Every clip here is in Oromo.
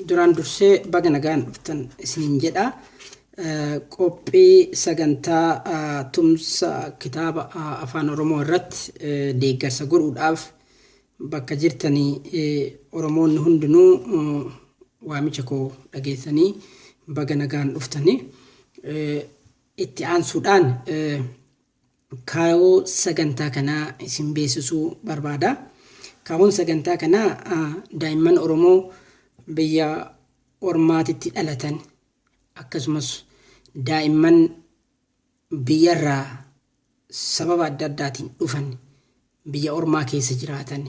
duraan dursee baga nagaan dhuftan isiniin jedha qophii sagantaa tumsa kitaaba afaan oromoo irratti deeggarsa godhuudhaaf bakka jirtanii oromoonni hundinuu waamicha koo dhageessanii baga nagaan dhuftanii itti aansuudhaan Kaayoo sagantaa kanaa isin beeksisuu barbaada. Kaayoon sagantaa kanaa daa'imman Oromoo biyya ormaatitti dhalatan akkasumas daa'imman biyyarraa sababa adda addaatiin dhufan biyya ormaa keessa jiraatan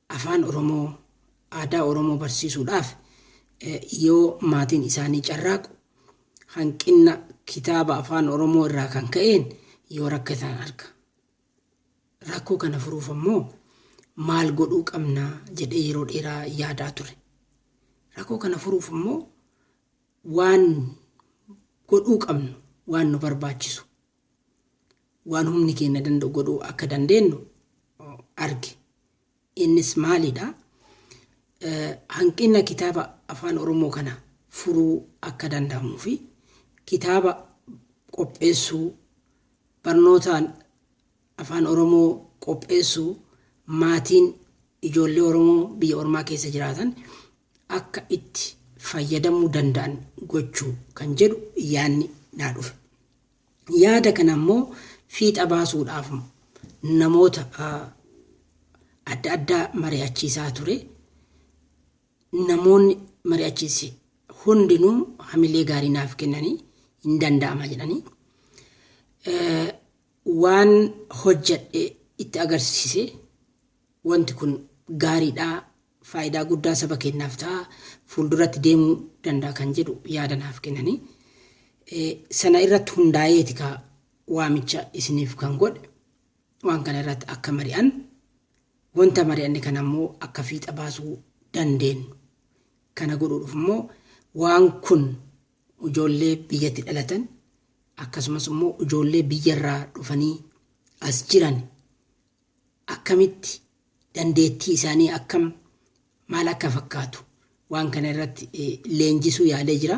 Afaan Oromoo, aadaa Oromoo barsiisuudhaaf yoo maatiin isaanii carraaqu hanqinna kitaaba Afaan Oromoo irraa kan ka'een yoo rakkatan arga. Rakkoo kana furuuf ammoo maal godhuu qabna jedhee yeroo dheeraa yaadaa ture. Rakkoo kana furuuf ammoo waan godhuu qabnu waan nu barbaachisu waan humni keenya danda'u godhuu akka dandeenyu arge. Innis maalidha? Hanqina kitaaba afaan Oromoo kana furuu akka danda'amuu fi kitaaba qopheessuu barnootaan afaan Oromoo qopheessuu maatiin ijoollee Oromoo biyya ormaa keessa jiraatan akka itti fayyadamuu danda'an gochuu kan jedhu yaadni naa dhufe. Yaada kana immoo fiixa baasuudhaaf namoota adda addaa mari'achiisaa ture. Namoonni mari'achiise hundinuu hamilee gaarii naaf kennanii hin danda'ama jedhanii waan hojjedhe itti agarsiise wanti kun gaariidhaa faayidaa guddaa saba keenyaaf ta'a, fuulduratti deemuu danda'a kan jedhu yaada naaf kennani. Sana irratti hundaa'eeti ka waamicha isiniif kan godhe waan kana irratti akka mari'an wanta mari'anne kana immoo akka fiixa baasuu dandeenyu. Kana godhuudhaaf immoo waan kun ijoollee biyyatti dhalatan akkasumas immoo ijoollee biyyarraa dhufanii as jiran akkamitti dandeettii isaanii akkam, maal akka fakkaatu waan kana irratti leenjisuu yaalee jira.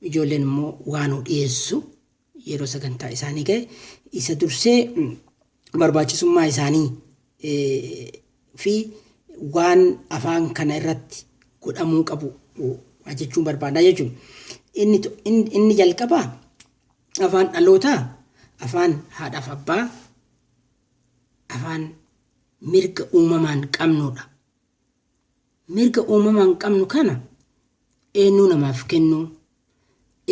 Ijoolleen immoo waanuu dhiyeessu yeroo sagantaa isaanii ga'e isa dursee barbaachisummaa isaanii fi waan afaan kana irratti godhamuu qabu jechuun barbaada jechuudha. Inni, inni jalqabaa afaan dhalootaa afaan haadhaaf abbaa afaan mirga uumamaan qabnuudha. Mirga uumamaan qabnu kana eenyuu namaaf kennuu,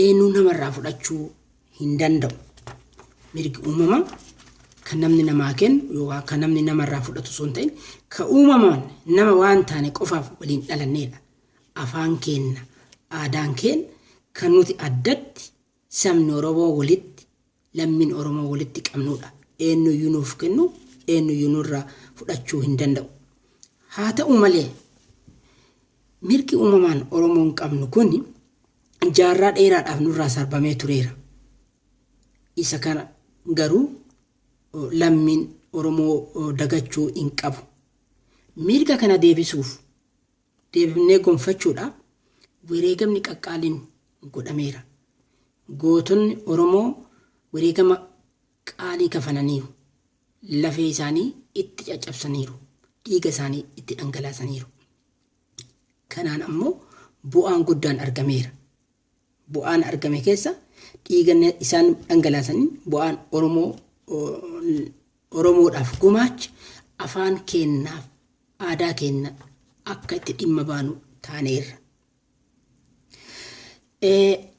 eenyuu namarraa fudhachuu hin danda'u. Mirgi uumamaa kan namni namaa kennu yookaan kan namni namarraa fudhatu osoo hin ta'in kan uumamaan nama waan taane qofaaf waliin dhalanneedha. Afaan keenna, aadaan keenna kan nuti addatti Sabni Oromoo walitti, lammiin Oromoo walitti qabnuudha. Eennuyyuu nuuf kennuu, eennuyyuu nurraa fudhachuu hin danda'u. Haa ta'u malee, mirgi uumamaan Oromoon qabnu kun jaarraa dheeraadhaaf nurraa sarbamee tureera. Isa kana garuu lammiin Oromoo dagachuu hin qabu. Mirga kana deebisuuf deebifnee gonfachuudhaaf wereegamni qaqqaaliin godhameera. Gootonni Oromoo wereegama qaalii kafalaniiru. Lafee isaanii itti caccabsaniiru. Dhiiga isaanii itti dhangalaasaniiru. Kanaan ammoo bu'aan guddaan argameera. bu'aan argame keessa dhiiga isaan dhangalaasaniin bu'aan Oromoo Oromoodhaaf gumaache afaan keennaaf aadaa keenna akka itti dhimma baanu taaneerra.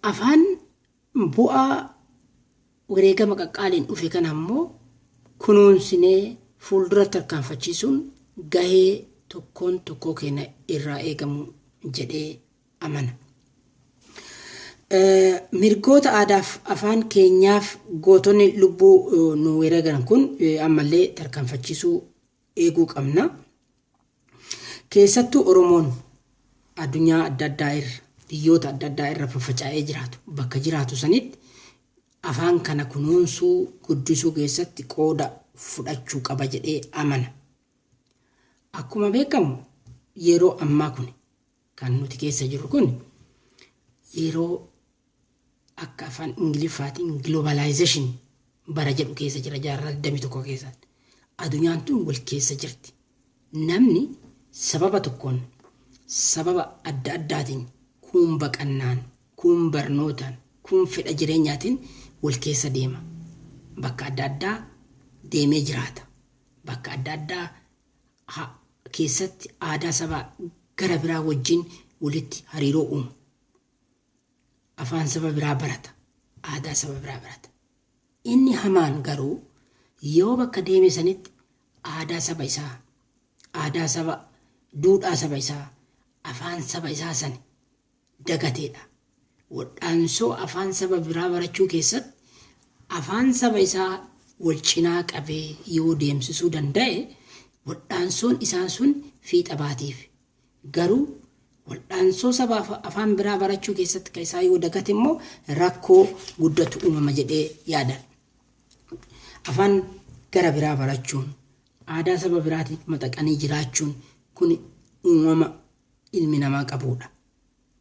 Afaan bu'aa wareegama qaqqaaliin dhufe kana ammoo kunuunsinee fuuldura tarkaanfachiisuun gahee tokkoon tokkoo keenya irraa eegamu jedhee amana. Mirgoota aadaaf afaan keenyaaf gootonni lubbuu nu wereegan kun ammallee tarkaanfachiisuu eeguu qabna. Keessattuu Oromoon addunyaa adda addaa irra, biyyoota adda addaa irra faffacaa'ee jiraatu bakka jiraatu sanitti afaan kana kunuunsuu, guddisuu keessatti qooda fudhachuu qaba jedhee amana. Akkuma beekamu yeroo ammaa kuni. Kan nuti keessa jirru kun yeroo akka afaan Ingiliffaatiin globalization bara jedhu keessa jira jaarraa 21 keessatti. Adunyaan tun wal keessa jirti. Namni sababa tokkoon sababa adda addaatiin kuun baqannaan, kuun barnootaan, kuun fedha jireenyaatiin wal keessa deema. Bakka adda addaa deemee jiraata. Bakka adda addaa ha keessatti aadaa saba gara biraa wajjin walitti hariiroo uuma. Afaan saba biraa barata. Aadaa saba biraa barata. Inni hamaan garuu yoo bakka deeme sanitti aadaa saba isaa, aadaa saba, duudhaa saba isaa, afaan saba isaa sani dagateedha. Waldhaansoo afaan saba biraa barachuu keessatti afaan saba isaa walcinaa qabee yoo deemsisuu danda'e waldhaansoon isaa sun fiixa baatiif. Garuu waldhaansoo saba afaan biraa barachuu keessatti ka isaa yoo dagate immoo rakkoo guddatu uumama jedhee yaada. Afaan gara biraa barachuun aadaa saba biraatiin maxaqanii jiraachuun kun uumama ilmi namaa qabuudha.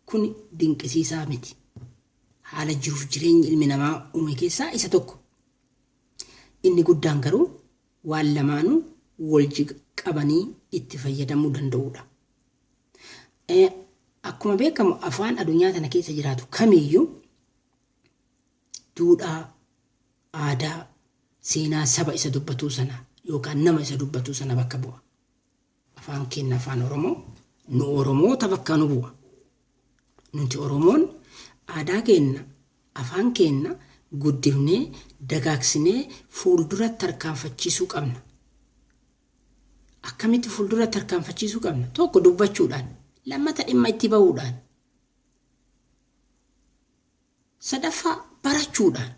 Kuni dinqisiisaa miti. Haala jiruuf jireenyi ilmi namaa uume keessaa isa tokko. Inni guddaan garuu waan lamaanuu walji qabanii itti fayyadamuu danda'uudha. E, Akkuma beekamu afaan adunyaa tana keessa jiraatu kamiyyuu duudhaa, aadaa, seenaa saba isa dubbatuu sana yookaan nama isa dubbatuu sana bakka bu'a. Afaan keenna Afaan Oromoo nu Oromoota bakkaa nu bu'a. Nuti Oromoon aadaa keenna, afaan keenna guddifnee, dagaagsinee fuulduratti tarkaanfachiisuu qabna. Akkamitti fuulduratti tarkaanfachiisuu qabna? Tokko dubbachuudhaan, lammata dhimma itti bahuudhaan, sadaffaa barachuudhaan.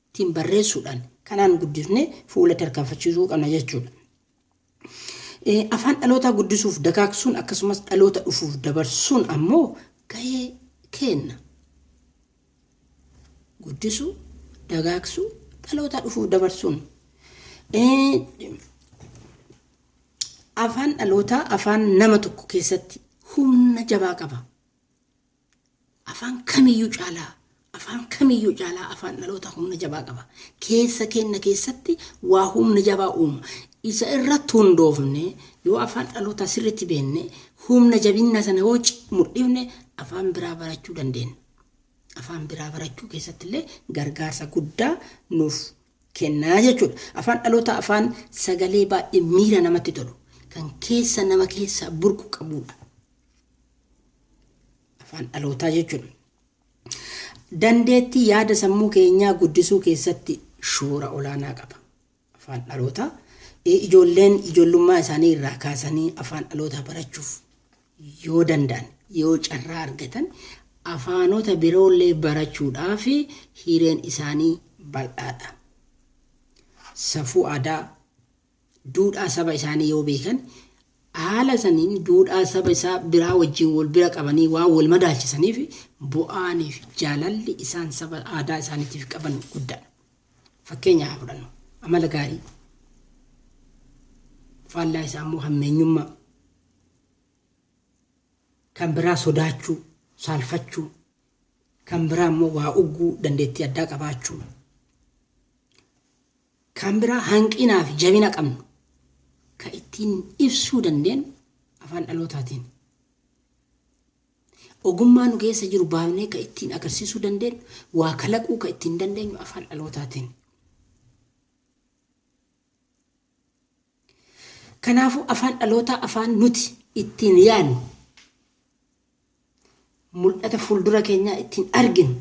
ittiin barreessuudhaan kanaan guddifnee fuula tarkaanfachiisuu qabna jechuudha. Afaan dhalootaa guddisuuf dagaagsuun akkasumas dhaloota dhufuuf dabarsuun ammoo gahee keenna. Guddisuu, dagaagsuu, dhalootaa dhufuuf dabarsuun. Afaan dhalootaa afaan nama tokko keessatti humna jabaa qaba. afaan kamiyyuu caalaa afaan kamiyyuu caalaa afaan dhaloota humna jabaa qaba. Keessa kenna keessatti waa humna jabaa uuma. Isa irratti hundoofne yoo afaan dhalootaa sirriitti beenne humna jabinna sana yoo mul'ifne afaan biraa barachuu dandeenya. Afaan biraa barachuu keessatti illee gargaarsa guddaa nuuf kennaa jechuudha. Afaan dhalootaa afaan sagalee baay'ee miira namatti tolu kan keessa nama keessaa burqu qabudha. afaan dhalootaa jechuudha. Dandeettii yaada sammuu keenyaa guddisuu keessatti shoora olaanaa qaba. Afaan dhalootaa ijoolleen ijoollummaa isaanii irraa kaasanii afaan dhalootaa barachuuf yoo danda'an yoo carraa argatan afaanota biroollee barachuudhaaf hireen isaanii bal'aadha. Safuu aadaa duudhaa saba isaanii yoo beekan haala saniin duudhaa saba isaa biraa wajjin wal bira qabanii waan wal madaalchisaniif bu'aanii fi jaalalli isaan saba aadaa isaaniitiif qaban guddaadha. Fakkeenya haa fudhannu. Amala gaarii. Faallaa isaa immoo hammeenyummaa. Kan biraa sodaachuu, saalfachuu. Kan biraa immoo waa ugguu dandeettii addaa qabaachuu. Kan biraa hanqinaa fi jabina qabnu kan ittiin ibsuu dandeenyu afaan dhalootaatiini. Ogummaa nu keessa jiru baafnee kan ittiin agarsiisuu dandeenyu, waa kalaquu kan ittiin dandeenyu afaan dhalootaatiini. Kanaafuu afaan dhalootaa afaan nuti ittiin yaadnu, mul'ata fuuldura keenyaa ittiin arginu,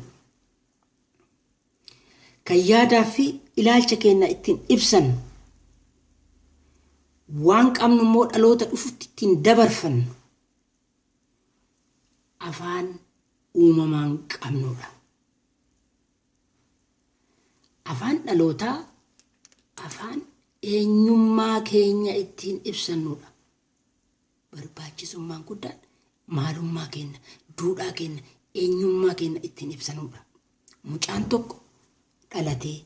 Kan yaadaa fi ilaalcha keenna ittiin ibsannu, waan qabnu immoo dhaloota dhufutti ittiin dabarfannu afaan uumamaan qabnu dha. Afaan dhalootaa afaan eenyummaa keenya ittiin ibsannu dha. barbaachisummaan guddaan maalummaa keenna, duudhaa keenna, eenyummaa keenna ittiin ibsanuudha. Mucaan tokko dhalatee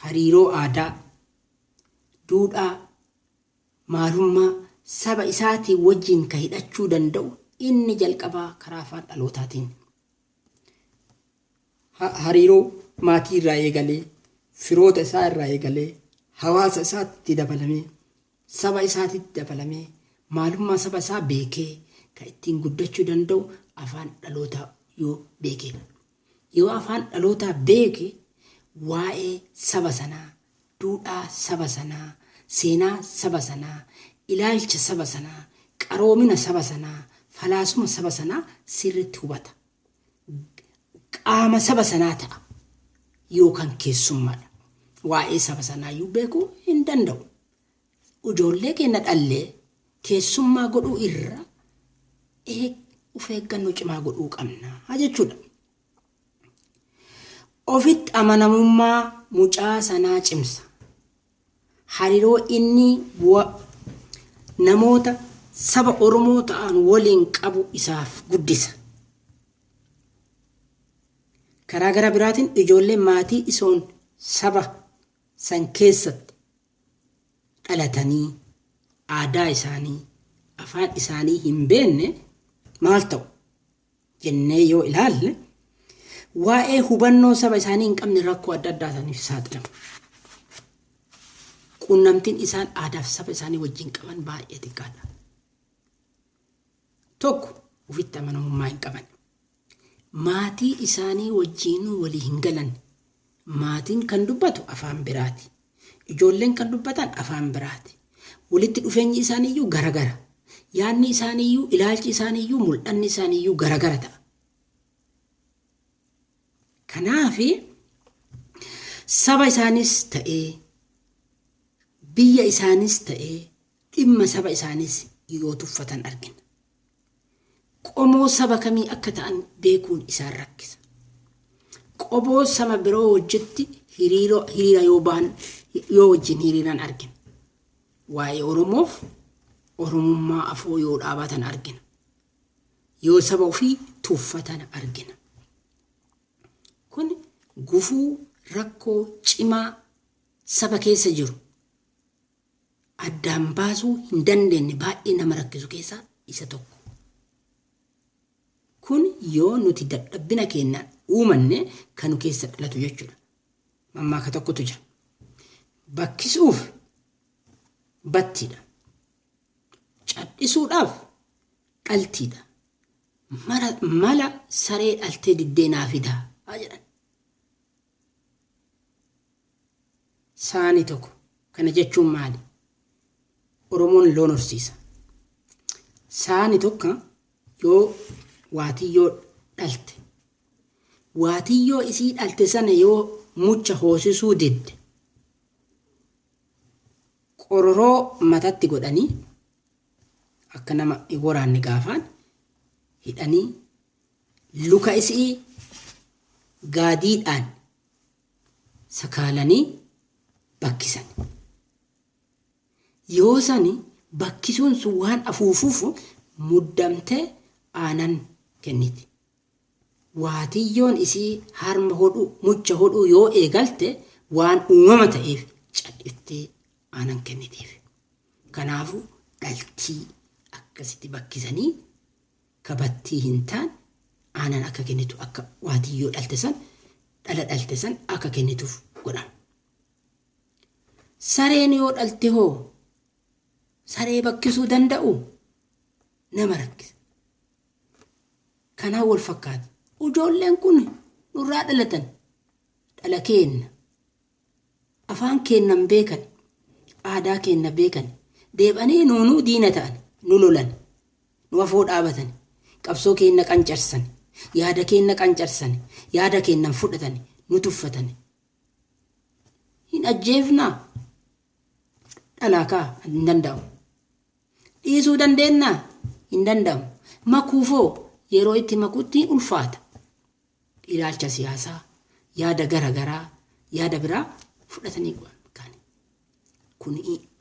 hariiroo aadaa, duudhaa, maalummaa saba isaatiin wajjin ka hidhachuu danda'u inni jalqabaa karaa afaan dhalootaatiin. Ha- Hariiroo maatii irraa eegalee, firoota isaa irraa eegalee, hawaasa isaatti dabalamee Saba isaatitti dabalamee, maalummaa saba isaa beekee kan ittiin guddachuu danda'u afaan dhalootaa yoo beekeedha. Yoo afaan dhalootaa beeke waa'ee saba sanaa, duudhaa saba sanaa, seenaa saba sanaa, ilaalcha saba sanaa, qaroomina saba sanaa, falaasuma saba sanaa sirriitti hubata. qaama saba sanaa ta'a yookaan keessummaadha. Waa'ee saba sanaa iyyuu beekuu hin danda'u. Ijoollee keenya dhallee keessummaa godhuu irra of eeggannoo cimaa godhuu qabna jechuudha. Ofitti amanamummaa mucaa sanaa cimsa. hariroo inni wa namoota saba Oromoo ta'an waliin qabu isaaf guddisa. Karaa gara biraatiin ijoolleen maatii isoon saba san keessatti dhalatanii aadaa isaanii, afaan isaanii hin beenne maal ta'u? jennee yoo ilaalle waa'ee hubannoo saba isaanii hin qabne rakkoo adda addaa isaaniif saaxilamu. Quunnamtiin isaan aadaaf saba isaanii wajjin qaban baay'ee xiqqaadha. Tokko ofitti amanamummaa hin qaban. Maatii isaanii wajjin walii hin galan. Maatiin kan dubbatu afaan biraati. Ijoolleen kan dubbatan afaan biraati. Walitti dhufeenyi isaaniiyyuu garagara. Yaadni isaaniiyyuu, ilaalchi isaaniiyyuu, mul'anni isaaniiyyuu garagara ta'a. Kanaaf saba isaaniis ta'ee, biyya isaaniis ta'ee, dhimma saba isaaniis yoo tuffatan argina. qomoo saba kamii akka ta'an beekuun isaan rakkisa. Qoboo sama biroo wajjitti hiriiroo- hiriira yoo ba'an yoo wajjin hiriiran argina. Waa'ee Oromoof Oromummaa afoo yoo dhaabatan argina. Yoo saba ofii tuffatan argina. Kun gufuu rakkoo cimaa saba keessa jiru addaan baasuu hin dandeenne baay'ee nama rakkisu keessaa isa tokko. Kun yoo nuti dadhabbina keennaan uumanne kan nu keessa dhalatu jechuudha. Mammaaka tokkotu jira. Bakkisuuf battiidha. Cadhisuudhaaf dhaltiidha. Mara, mala saree dhaltee diddee naa fidaa haa jedhan. saani toko kana jechuun maali oromoon loon horsiisa saani tokka yoo waatiyyoo dhalte waatiyyoo isii dhalte sana yoo mucha hoosisuu didde qororoo matatti godhanii akka nama hin woraanne gaafaan hidhanii luka isii gaadiidhaan sakaalanii bakkisan. Yoo sani bakkisuun sun waan afuufuuf muddamtee aanan kenniti. Waatiyyoon isii harma hodhuu, mucha hodhuu yoo eegalte waan uumama ta'eef cadhiftee aanan kennitiif. Kanaafuu dhaltii akkasitti bakkisanii ka battii hin taane aanan akka kennitu akka waatiyyoo dhalte san dhala dhalte san akka kennituuf godhama. Sareen yoo dhalte hoo saree bakkisuu danda'u nama rakkisa. Kanaan wal fakkaata. Ujoolleen kun nurraa dhalatan dhala keenna Afaan keenna hin beekani, aadaa keenna beekani, deeb'anii nuu nuu diina ta'ani, nu lolani, nu afoo dhaabatani, qabsoo keenna qancarsani, yaada keenna qancarsani, yaada keenna hin fudhatani, nu tuffatani. Hin ajjeefnaa? Dhalaa kaa hin danda'amu. Dhiisuu dandeennaa? Hin danda'amu. Makuufoo? Yeroo itti makutti ulfaata. ilaalcha siyaasaa, yaada gara garaa, yaada biraa fudhatanii bu'an kan kun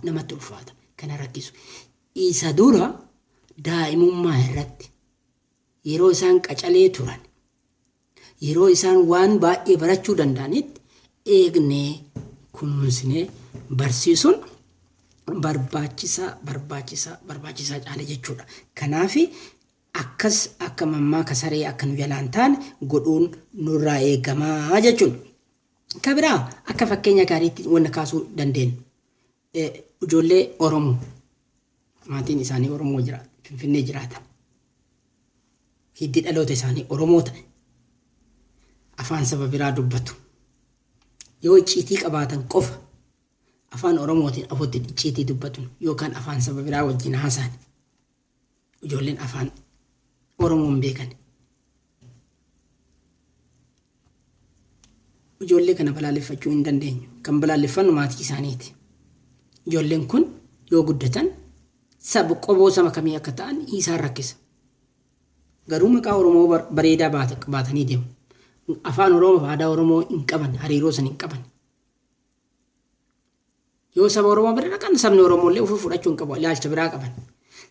namatti ulfaata kana rakkisu. Isa dura daa'imummaa irratti yeroo isaan qacalee turan yeroo isaan waan baay'ee barachuu danda'anitti eegnee kunuunsinee barsiisuun barbaachisaa barbaachisaa barbaachisaa caala jechuudha. Kanaaf Akkas akka mammaaka saree akka nu jalaa hin taane godhuun nurraa eegama jechuun. Ka biraa akka fakkeenya gaariitti wanna kaasuu dandeenyu ijoollee Oromoo maatiin isaanii Oromoo jira Finfinnee jiraatan hiddi dhaloota isaanii Oromoo ta'e afaan saba biraa dubbatu. Yoo icciitii qabaatan qofa afaan Oromootiin afotti icciitii dubbatu yookaan afaan saba biraa wajjin haasa'an. ijoolleen afaan Oromoo hin beekan. Ijoollee kana balaaleffachuu hin dandeenyu. Kan balaaleffannu maatii isaaniiti. Ijoolleen kun yoo guddatan saba qoboo sama kamii akka ta'an isaan rakkisa. Garuu maqaa Oromoo bar- bareedaa baata- baatanii deemu. Afaan Oromoo fi aadaa Oromoo hin qaban, hariiroo san hin qaban. Yoo saba Oromoo bira dhaqan sabni Oromoo illee ofii fudhachuu hin qabu ilaalcha biraa qaban.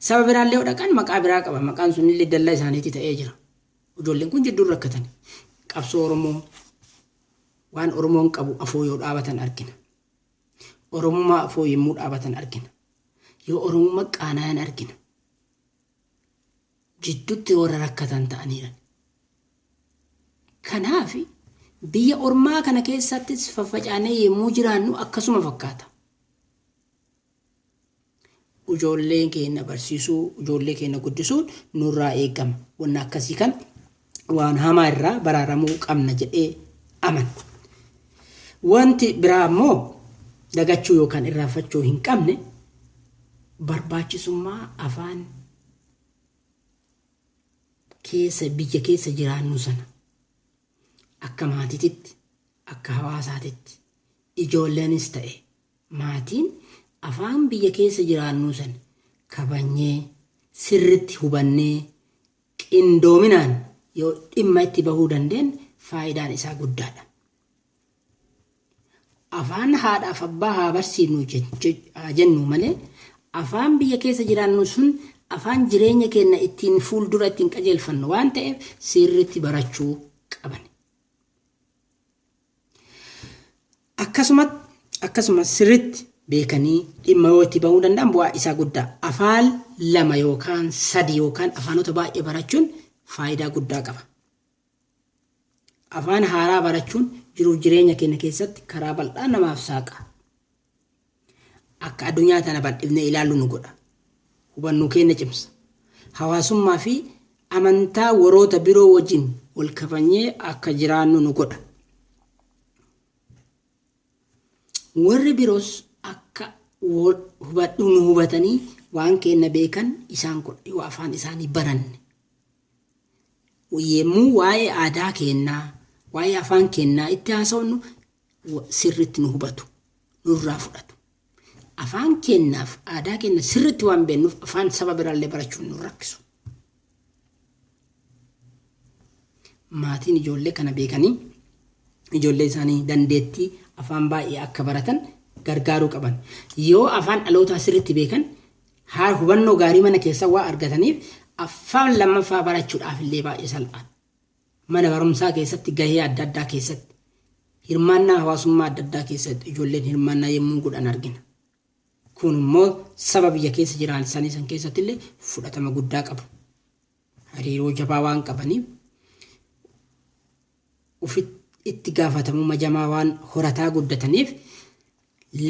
Saba biraa illee yoo dhaqan maqaa biraa qaban maqaan sun illee dallaa isaaniitti ta'ee jira. Ijoolleen kun jidduun rakkatan. Qabsoo Oromoo waan Oromoon qabu afoo yoo dhaabatan argina. Oromummaa afoo yommuu dhaabatan argina. Yoo Oromummaa qaanaayan argina. jiddutti warra rakkatan ta'aniiran. Kanaaf, biyya ormaa kana keessattis faffacaanee yemmuu jiraannu akkasuma fakkaata. Ujoollee keenna barsiisuu, ujoollee keenna guddisuun nurraa eegama. Wanna akkasii kan waan hamaa irraa baraaramuu qabna jedhee amana. Wanti biraa ammoo dagachuu yookaan irraanfachuu hin qabne barbaachisummaa afaan keessa biyya keessa jiraannu sana akka maatiititti akka hawaasaatitti ijoolleenis ta'e maatiin afaan biyya keessa jiraannu sana kabanyee sirritti hubannee qindoominaan yoo dhimma itti bahuu dandeenye faayidaan isaa guddaadha. Afaan haadhaaf abbaa haa barsiifnu haa jennu malee afaan biyya keessa jiraannu sun afaan jireenya keenya ittiin fuuldura ittiin qajeelfannu waan ta'eef sirriitti barachuu qabna. Akkasumas akkasumas sirriitti beekanii dhimma yoo itti bahuu danda'an bu'aa isaa guddaa. Afaan lama yookaan sadi yookaan afaanota baay'ee barachuun faayidaa guddaa qaba. Afaan haaraa barachuun jiruuf jireenya keenya keessatti karaa bal'aa namaaf saaqa. Akka addunyaa tana bal'ifnee ilaallu nu godha. Hubannoo keenya cimsa. Hawaasummaa fi amantaa waroota biroo wajjin wal kabanyee akka jiraannu nu godha. Warri biroos akka wal hubadhu nu hubatanii waan keenya beekan isaan godha yoo afaan isaanii baranne. Yemmuu waa'ee aadaa keennaa, waa'ee afaan keennaa itti haasofnu sirritti nu hubatu nurraa fudhatu afaan keennaaf aadaa keenna sirritti waan beennuuf afaan saba biraallee barachuun nu rakkisu maatiin ijoollee kana beekanii ijoollee isaanii dandeettii afaan baay'ee akka baratan gargaaruu qaban yoo afaan dhalootaa sirritti beekan haa hubannoo gaarii mana keessa waa argataniif afaan lammaffaa barachuudhaaf illee baay'ee salphaadha Mana barumsaa keessatti gahee adda addaa keessatti, hirmaannaa hawaasummaa adda addaa keessatti ijoolleen hirmaannaa yemmuu godhan argina. Kun immoo saba biyya keessa jiraansanii san keessatti illee fudhatama guddaa qabu. Hariiroo jabaa waan qabaniif ufi itti gaafatamumma jamaa waan horataa guddataniif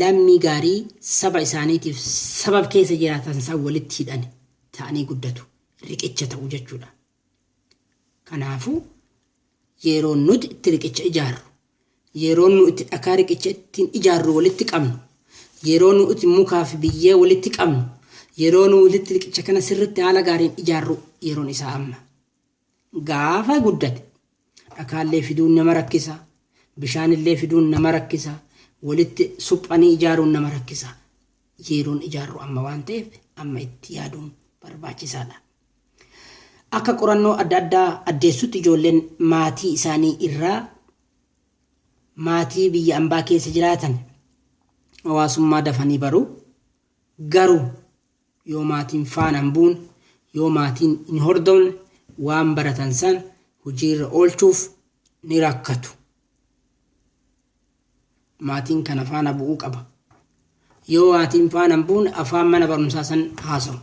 lammii gaarii saba isaaniitiif sabab keessa jiraatan isaan walitti hidhan ta'anii guddatu. Riqicha ta'u jechuudha. Kanaafuu, yeroo nuti itti riqicha ijaarru, yeroo nu itti dhakaa riqicha ittiin ijaarru walitti qabnu, yeroo nu itti mukaa fi biyyee walitti qabnu, yeroo nu itti riqicha kana sirritti haala gaariin ijaarru yeroon isaa amma. Gaafa guddate Dhakaallee fiduun nama rakkisa. Bishaanillee fiduun nama rakkisa. Walitti suphanii ijaaruun nama rakkisa. Yeroon ijaarru amma waan ta'eef amma itti yaaduun barbaachisaadha. Akka qorannoo adda addaa addeessutti ijoolleen maatii isaanii irraa maatii biyya ambaa keessa jiraatan hawaasummaa dafanii baru. Garuu yoo maatiin faana hin buune, yoo maatiin hin hordofne waan baratan san hojiirra oolchuuf ni rakkatu. Maatiin kana faana bu'uu qaba. Yoo maatiin faana hin buune afaan mana barumsaa san haasawu.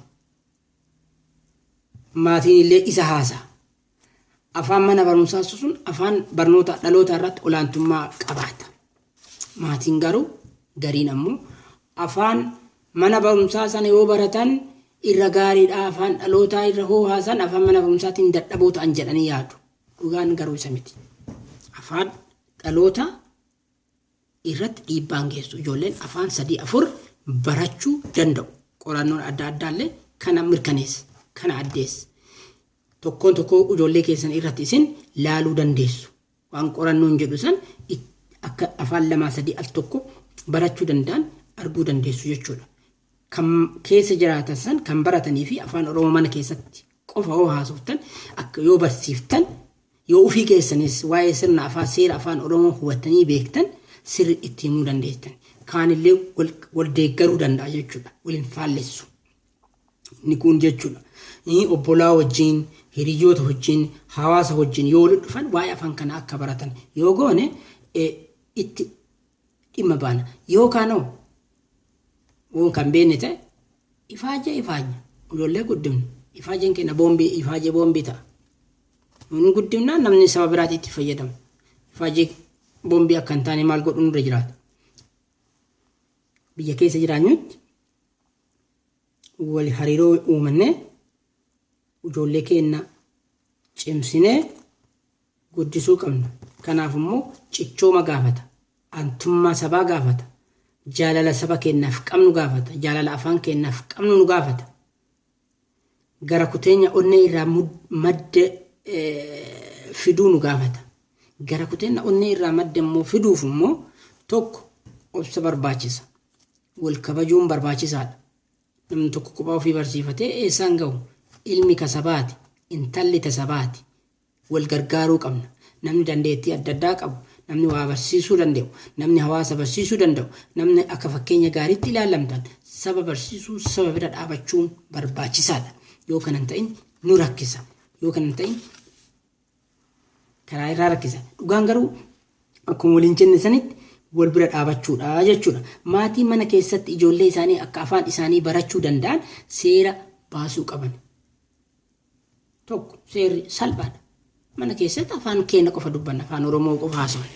Maatiin illee isa haasa'a. Afaan mana barumsaa susuun afaan barnoota dhalootaa irratti olaantummaa qabaata. Maatiin garuu gariin ammoo afaan mana barumsaa sana yoo baratan irra gaariidha afaan dhalootaa irra hoo haasan afaan mana barumsaatiin dadhaboo ta'an jedhanii yaadu. Dhugaan garuu isa miti. Afaan dhalootaa irratti dhiibbaan geessu. Ijoolleen afaan sadii afur barachuu danda'u. Qorannoon adda addaallee kana mirkaneessa. Kana addeessa. Tokkoon tokkoo ijoollee keessan irratti isin laaluu dandeessu. Waan qorannoon jedhu san akka afaan lamaa sadii al tokko barachuu danda'an arguu dandeessu jechuudha. Kan keessa jiraatan san kan baratanii fi afaan Oromoo mana keessatti qofa yoo haasoftan, akka yoo barsiiftan, yoo ufii keessaniis waa'ee sirna afaan seera afaan oromoo hubattanii beektan sirri itti himuu dandeesstan. Kaanillee wal wal deeggaruu danda'a jechuudha. Wal hin faallessu. Inni kun jechuudha. Inni obbolaa wajjin, hiriyyoota wajjin, hawaasa wajjin yoo walitti dhufan waa'ee afaan kana akka baratan yoo goone eh, itti dhimma baana. Yoo kaanoo uun kan beenne ta'e, ifaajjee ifaajja, ijoollee guddifna, ifaajjeen keenna boombii, ifaajjee boombii ta'a. Nuun guddifnaan namni saba biraatii itti fayyadama. Ifaajjee boombii akka hin taane maal godhu nurra jiraata? Biyya keessa jiraanyutti wal hariiroo uumannee ijoollee keenna cimsinee guddisuu qabna. Kanaaf immoo cichooma gaafata, aantummaa sabaa gaafata, jaalala saba keennaaf qabnu gaafata, jaalala afaan keennaaf qabnu nu gaafata. Gara kuteenya onnee irraa madde fiduu nu gaafata. Gara kuteenna onnee irraa madde immoo fiduuf immoo tokko obsa barbaachisa. Wal kabajuun barbaachisaadha. Namni tokko kophaa ofii barsiifatee eessaan gahu? Ilmi ka sabaati, intalli ta sabaati, Wal gargaaruu qabna. Namni dandeettii adda addaa qabu, namni waa barsiisuu danda'u, namni hawaasa barsiisuu danda'u, namni akka fakkeenya gaariitti ilaalamtan saba barsiisuu, saba bira dhaabachuun barbaachisaadha. Yoo kana hin ta'in nu rakkisa. Yoo kana hin ta'in karaa irraa rakkisa. Dhugaan garuu akkuma waliin jenne sanitti wal bira dhaabachuudha jechuudha. Maatii mana keessatti ijoollee isaanii akka afaan isaanii barachuu danda'an seera baasuu qaban. tokko seerri salphaadha. Mana keessatti afaan keenya qofa dubbanna, afaan Oromoo qofa haasofna.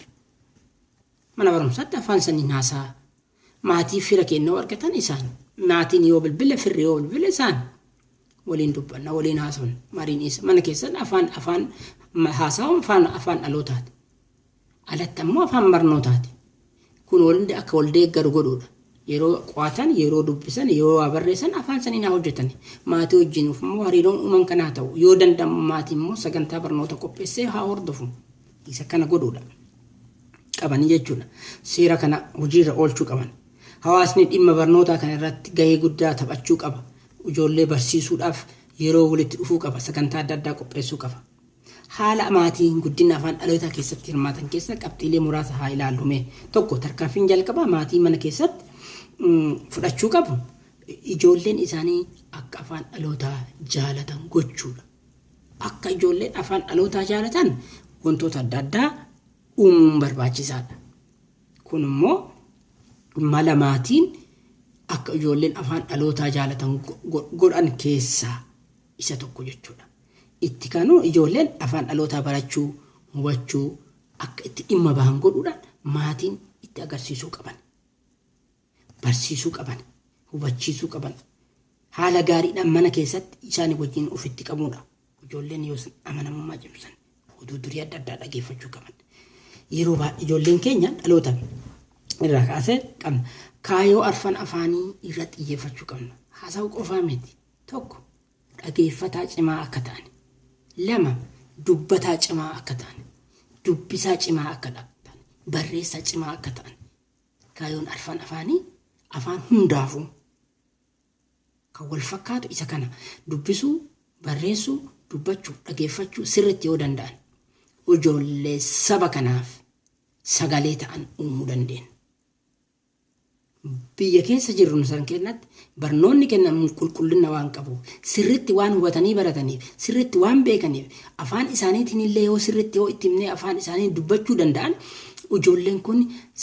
Mana barumsaatti afaan saniin haasaa. Maatii fira keenya argatan isaan. Maatiin yoo bilbile, firri yoo bilbile isaan. Waliin dubbanna, waliin haasofna. Mariin isa mana keessatti afaan afaan haasaawwan afaan afaan dhalootaati. alatti ammoo afaan barnootaati. Kun walhundi akka waldeeggaru godhuudha. Yeroo qo'atan, yeroo dubbisan, yeroo waa barreessan afaan saniin haa hojjetani. Maatii wajjin immoo hariiroon uuman kana haa ta'u. Yoo danda'amu maatiin immoo sagantaa barnoota qopheessee haa hordofu. Isa kana godhuudha. Qabanii jechuudha. Seera kana hojiirra oolchuu qaban. Hawaasni dhimma barnootaa kana irratti gahee guddaa taphachuu qaba. Ijoollee barsiisuudhaaf yeroo walitti dhufuu qaba. Sagantaa adda addaa qopheessuu qaba. Haala maatiin guddina afaan dhalootaa keessatti hirmaatan keessaa qabxiilee muraasa haa ilaallu mee. 1, Tarkaanfiin jalqabaa maatiin mana keessatti fudhachuu qabu ijoolleen isaanii akka afaan dhalootaa jaalatan gochuudha. Akka ijoolleen afaan dhalootaa jaalatan wantoota adda addaa uumuun barbaachisaadha. Kun immoo mala maatiin akka ijoolleen afaan dhalootaa jaalatan godhan keessaa isa tokko jechuudha. Itti kanu ijoolleen afaan dhalootaa barachuu, hubachuu akka itti dhimma bahan godhuudhaan maatiin itti agarsiisuu qaban. Barsiisuu qaban. Hubachiisuu qaban. Haala gaariidhaan mana keessatti isaanii wajjin ofitti qabuudha. Ijoolleen yoos amanamummaa cimsan oduu durii adda addaa dhageeffachuu qaban. Yeroo baay'ee ijoolleen keenya dhaloota irraa kaasee qabna. Kaayoo arfan afaanii irratti xiyyeeffachuu qabna. Haasa'uu qofaa miti. Tokko. dhageeffataa cimaa akka taane. 2, dubbataa cimaa akka taane. dubbisaa cimaa akka taane. barreessaa cimaa akka taane. Kaayoon arfan afaanii afaan hundaafuu kan wal fakkaatu isa kana dubbisuu, barreessuu, dubbachuu, dhageeffachuu sirriitti yoo danda'an ijoollee saba kanaaf sagalee ta'an uumuu dandeenya. Biyya keessa jirru nu san keennatti barnoonni kennamu qulqullinna waan qabuuf, sirritti waan hubatanii barataniif, sirritti waan beekaniif, afaan isaaniitiinillee yoo sirritti yoo itti himnee afaan isaaniin dubbachuu danda'an ijoolleen kun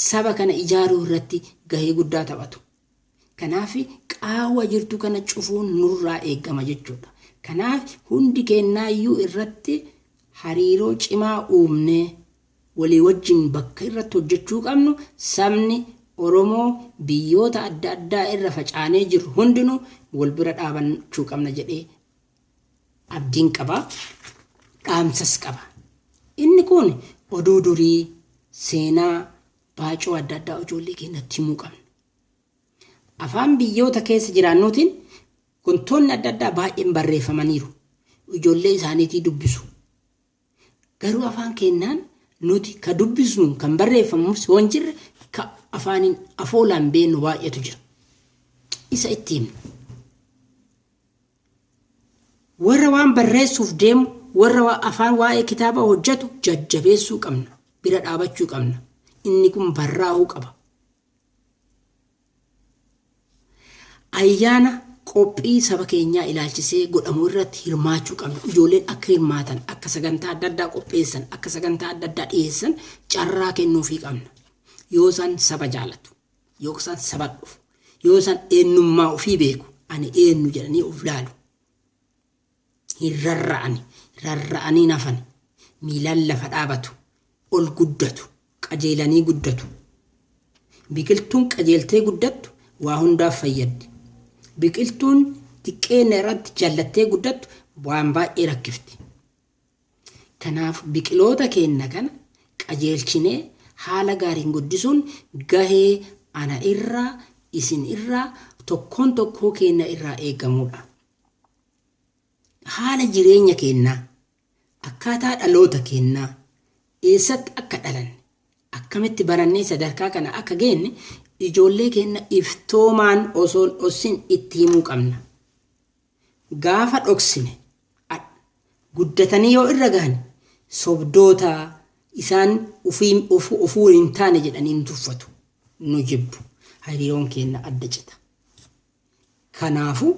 saba kana ijaaruu irratti gahee guddaa taphatu. Kanaaf qaawwa jirtu kana cufuun nurraa eegama jechuudha. Kanaaf hundi keennaayyuu irratti hariiroo cimaa uumnee walii wajjin bakka irratti hojjechuu qabnu sabni Oromoo biyyoota adda addaa irra facaanee jirru hundinuu wal bira dhaabachuu qabna jedhee abdiin qaba. Dhaamsas qaba. Inni kun oduu durii, seenaa, baacoo adda addaa ijoollee keenyatti himuu qabna. Afaan biyyoota keessa jiraannuutiin wantoonni adda addaa baay'een barreeffamaniiru. Ijoollee isaaniitii dubbisu. Garuu afaan keennaan nuti ka dubbisnuun kan barreeffamus yoo hin jirre ka afaaniin afoolaan beennu baay'eetu jira. Isa itti himna. Warra waan barreessuuf deemu, warra waa- afaan waa'ee kitaabaa hojjetu jajjabeessuu qabna. Bira dhaabachuu qabna. Inni kun barraa'uu qaba. Ayyaana qophii saba keenyaa ilaalchisee godhamu irratti hirmaachuu qabna. Ijoolleen akka hirmaatan, akka sagantaa adda addaa qopheessan, akka sagantaa adda addaa dhiyeessan carraa kennuufii qabna. Yoo isaan saba jaalatu, yoo isaan saba dhufu, yoo isaan eenyummaa ofii beeku, ani eenyu jedhanii of laalu. hin rarra'ani, rarra'anii hin hafani, miilaan lafa dhaabatu, ol guddatu, qajeelanii guddatu. Biqiltuun qajeeltee guddattu waa hundaaf fayyaddi. Biqiltuun xiqqeenna irratti jallattee guddattu waan baay'ee rakkifti. Kanaaf biqiloota keenna kana qajeelchinee haala gaariin guddisuun gahee ana irraa, isin irraa, tokkoon tokkoo keenna irraa eegamuudha. haala jireenya keennaa, akkaataa dhaloota keennaa, eessatti akka dhalanne, akkamitti barannee sadarkaa kana akka geenne ijoollee keenna iftoomaan osoo hin dhossin itti himuu qabna. Gaafa dhoksine guddatanii yoo irra gahan sobdoota isaan ofuu hin taane jedhanii nu tuffatu, nu jibbu, hariiroon keenna adda cita. Kanaafu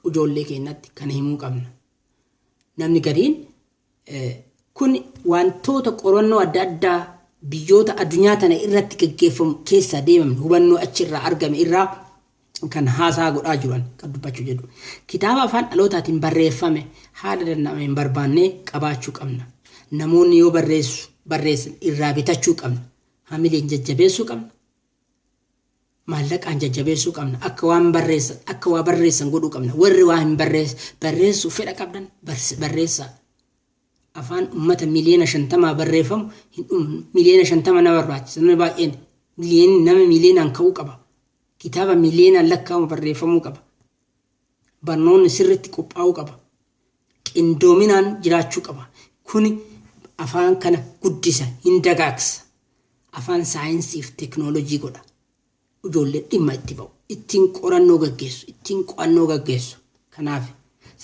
ujoollee keennatti kana himuu qabna. Namni gariin kun wantoota qorannoo adda addaa biyyoota adunyaa tana irratti gaggeeffamu keessaa deemamne hubannoo achi irraa argame irraa kan haasaa godhaa jiru ani kan dubbachuu jedhu. Kitaaba afaan dhalootaatiin barreeffame haala danda'ameen barbaannee qabaachuu qabna. Namoonni yoo barreessu barreessan irraa bitachuu qabna. Hamileen jajjabeessuu qabna. Maallaqaan jajjabeessuu qabna. Akka waan barreessan, akka waa barreessan godhuu qabna. Warri waa hin barreess, barreessuuf fedha qabdan barse- barreessaa. Afaan uummata miliyoona shantamaa barreeffamu hin dhumnu. Miliyoona shantama nama barbaachisa. Namni baay'een miliyoon nama miliyoonaan ka'uu qaba. Kitaaba miliyoonaan lakkaa'amu barreeffamuu qaba. Barnoonni sirriitti qophaa'uu qaba. Qindoominaan jiraachuu qaba. Kuni afaan kana guddisa, hin dagaagsa. Afaan saayinsii fi teknoolojii godha. Ijoolleen dhimma itti ba'u. Ittiin qorannoo gaggeessu, ittiin qo'annoo gaggeessu. Kanaaf,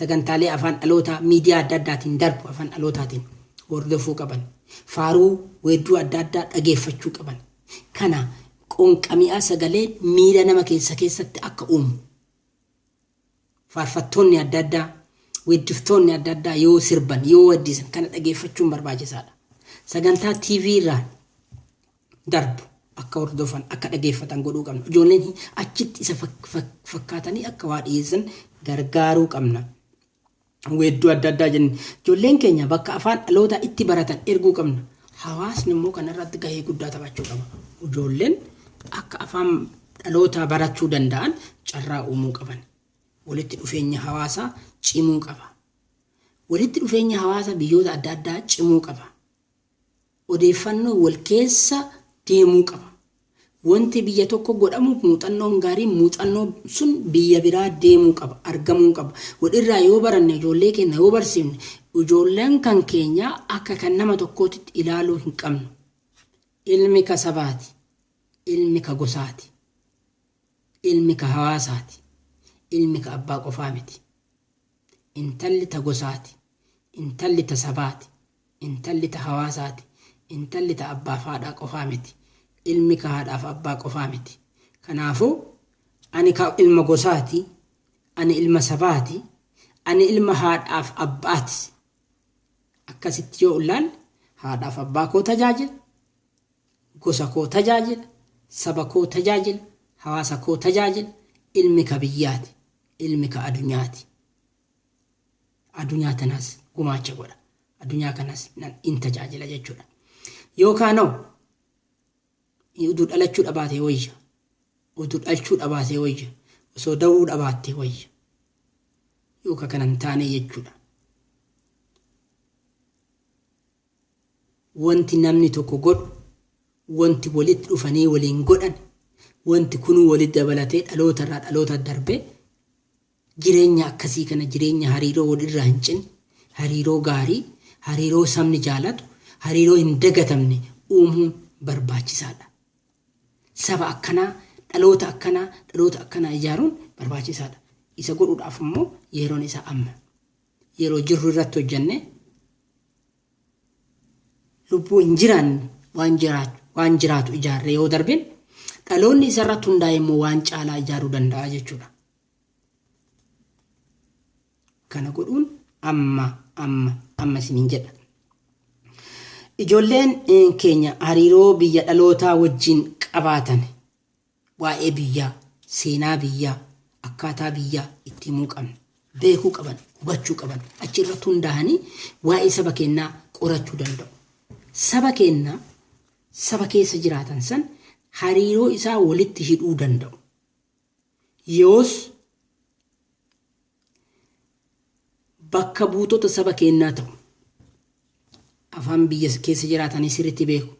sagantaalee afaan dhalootaa miidiyaa adda addaatiin darbu afaan dhalootaatiin hordofuu qaban. Faaruu, weedduu adda addaa dhageeffachuu qaban. Kana qoonqami'aa sagaleen miira nama keessa keessatti akka uumu. Faarfattoonni adda addaa, weeddiftoonni adda addaa yoo sirban, yoo weeddisan kana dhageeffachuun barbaachisaadha. Sagantaa TV irraan darbu akka hordofan, akka dhageeffatan godhuu qabna. Ijoolleen achitti isa fakkaatanii akka waa dhiyeessan gargaaruu qabna. weedduu adda addaa jenne ijoolleen keenya bakka afaan dhalootaa itti baratan erguu qabna. Hawaasni immoo kana irratti gahee guddaa taphachuu qaba. Ijoolleen akka afaan dhalootaa barachuu danda'an carraa uumuu qaban. Walitti dhufeenyi hawaasaa cimuu qaba. Walitti dhufeenyi hawaasa biyyoota adda addaa cimuu qaba. Odeeffannoon wal keessa deemuu qaba. Wanti biyya tokko godhamuuf muuxannoon gaariin muuxannoon sun biyya biraa deemuu qaba, argamuu qaba. Wal irraa yoo baranne, ijoollee keenna yoo barsiifne, ijoolleen kan keenyaa akka kan nama tokkootitti ilaaluu hin qabnu. Ilmi ka sabaati. Ilmi ka gosaati. Ilmi ka hawaasaati. Ilmi ka abbaa qofaa miti. Intalli ta gosaati. Intalli ta sabaati. Intalli ta hawaasaati. Intalli ta abbaaf haadhaa qofaa miti. Ilmi ka haadhaaf abbaa qofaa miti. Kanaafuu, ani ka ilma gosaati, ani ilma sabaati, ani ilma haadhaaf abbaatis. Akkasitti yoo ullaalle, haadhaaf abbaa koo tajaajila, gosa koo tajaajila, saba koo tajaajila, hawaasa koo tajaajila, ilmi ka biyyaati, ilmi ka adunyaati. Adunyaa tanaas gumaacha godha. Adunyaa kanas nan in tajaajila jechuudha. Yookaanoo utuu dhalachuu dhabaatee wayya. Utuu dhalchuu dhabaatee wayya. Osoo da'uu dhabaattee wayya. Yookaan kana hin taane jechuudha. Wanti namni tokko godhu, wanti walitti dhufanii waliin godhan, wanti kunuu walitti dabalatee dhaloota irraa dhaloota darbee Jireenya akkasii kana jireenya hariiroo walirraa hin cinne, hariiroo gaarii, hariiroo sabni jaalatu, hariiroo hin dagatamne uumuun barbaachisaadha. Saba akkanaa, dhaloota akkanaa, dhaloota akkanaa ijaaruun barbaachisaadha. Isa godhuudhaaf immoo yeroon isaa amma. Yeroo jirru irratti hojjennee lubbuu hin jiraanne waan jiraatu, waan jiraatu ijaarree yoo darbine dhaloonni isarratti hundaa'e immoo waan caalaa ijaaruu danda'a jechuudha. kana godhuun amma amma amma isiniin jedha. Ijoolleen keenya hariiroo biyya dhalootaa wajjin qabaatan waa'ee biyyaa, seenaa biyyaa, akkaataa biyyaa itti himuu qabna. Beekuu qaban, hubachuu qaban. Achi irratti hundaa'anii waa'ee saba keenyaa qorachuu danda'u. Saba keenyaa saba keessa jiraatan san hariiroo isaa walitti hidhuu danda'u. Yeoos bakka buutota saba keennaa ta'u. Afaan biyya keessa jiraatanii sirritti beeku.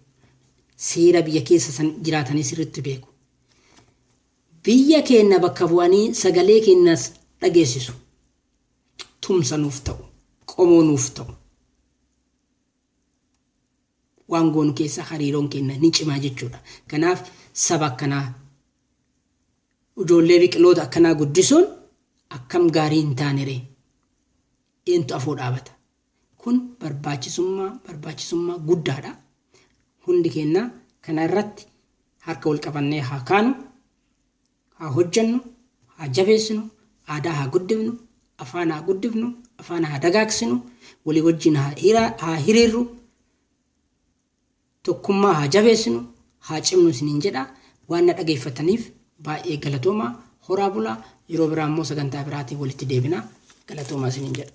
Seera biyya keessa san jiraatanii sirritti beeku. Biyya keenna bakka bu'anii sagalee keennas dhageessisu. Tumsa nuuf ta'u. Qomoo nuuf ta'u. Waan goonu keessa hariiroon keenna ni cimaa jechuudha. Kanaaf saba akkanaa Ujoollee biqiloota akkanaa guddisuun akkam gaarii hin taane ree? Eentu afoo dhaabata? Kun barbaachisummaa barbaachisummaa guddaadha. Hundi keenya kana irratti harka wal qabannee haa kaanu, haa hojjennu, haa jabeessinu, aadaa haa guddifnu, afaan haa guddifnu, afaan haa dagaagsinu, walii wajjin haa hira- haa hiriirru. Tokkummaa haa jabeessinu, haa cimnu isiniin jedha. Waan na dhageeffattaniif baay'ee galatoomaa. Horaa bulaa. Yeroo biraa immoo sagantaa biraatiin walitti deebina. Galatoomaa isiniin jedha.